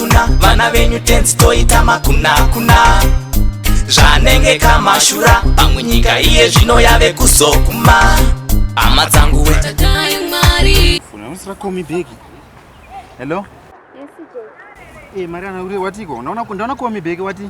kuna vana venyu tenzi toita makunakuna zvanenge kamashura pamwe nyika iye zvino yave kuzokuma hama dzangu we Hello? Yes, Jay. Eh, Mariana, uri watiko? Ndaona ndaona kuwa mibheki wati?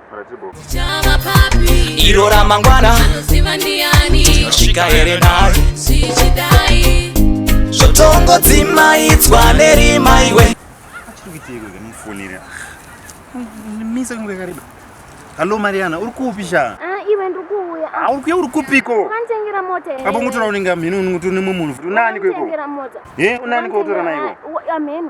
iro ramangwana tinosvika here naye zvotongodzimaidzwa nerima iwe misa kunge kariba hallo mariana uri kupi sha ah, iwe ndiri kuuya ah, uri kuya uri kupiko kanditengera mota apo ungotora unenge mhini unoti nemwe munhu futi unani kweko unani kwekutora naiwo amheni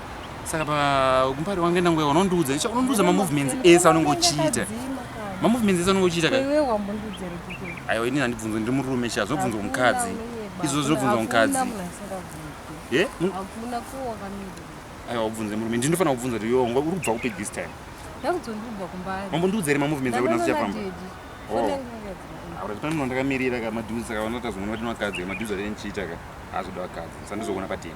saka pakumbari wange ndangoya unondiudza icha unondiudza mamovements ese anonge uchiita mamovements ese anonge uchiita ka aiwa ini handibvunzo ndiri murume sha zvinobvunzwa kumukadzi izvo zvinobvunzwa kumukadzi ye aiwa ubvunze murume ndi ndinofanira kubvunza kuti yo uri kubva kupi this time mambondiudza here mamovements akuti naso chafamba auratipanimno ndakamirira ka maduzi saka vanotazomona vati nokadzi ka maduzi atene chiita ka azoda vakadzi sandizoona pateni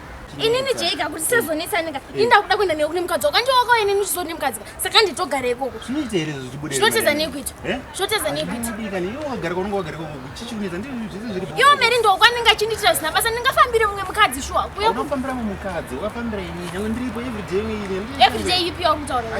inini jega kuti sezonetsanika ini ndakuda kuenda newe kune mukadzi wako andi wako ini ndichizo ne mukadzi saka nditogara ikoko zvinoteza nekuita zvinoteza nekuitaiwo meri ndoko anenge achindiitira zina basa ndingafambire mumwe mukadzi shuwa everyday ipi yauri kutaura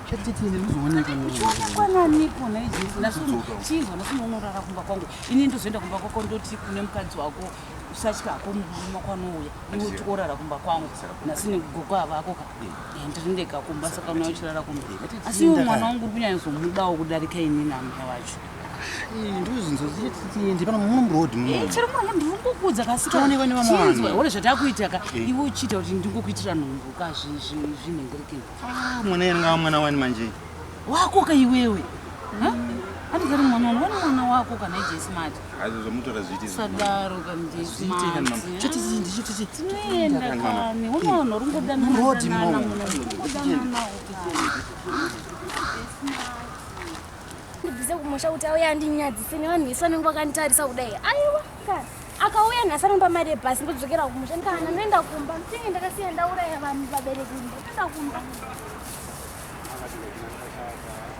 chichionekwananipo nhai jesu ndasochinzwa ndasomaunorara kumba kwangu ini ndozoenda kumba kwako ndoti kune mukadzi wako usatya hako murume kwanouya iwe tikorara kumba kwangu nhasi nekugogo avako ka eh, ndirindega kumba saka unoya uchirara kumba asi iwe mwana wangu uri kunyanya zomudawo kudarika ini namai wacho ndirikukudza kasiaonekwa zvatakuitaka iwe uchiita kuti ndingokuitira nhumbu ka zvinhengerekei Ah, mwana yanga wa mwana wani manje. Wako ka iwewe. Ha? Hadi kari mwana wani wani mwana wako kana ije smart. Azo zomutora zviti. Sadaro ka mje smart. Chiti zindi chiti chiti. Nenda kani. Wona wona rungo dana. Rodi mwana. Rungo dana mwana. Ndibize kumusha kuti auya andinyadzise nevanhu vese vanenge vakanditarisa kudai. Aiwa. akauya nhasi anopa mari yebhasi ndodzokera kumusha kana ndoenda kumba tinge ndakasiya ndauraya vanhu vabereki ndoenda kumba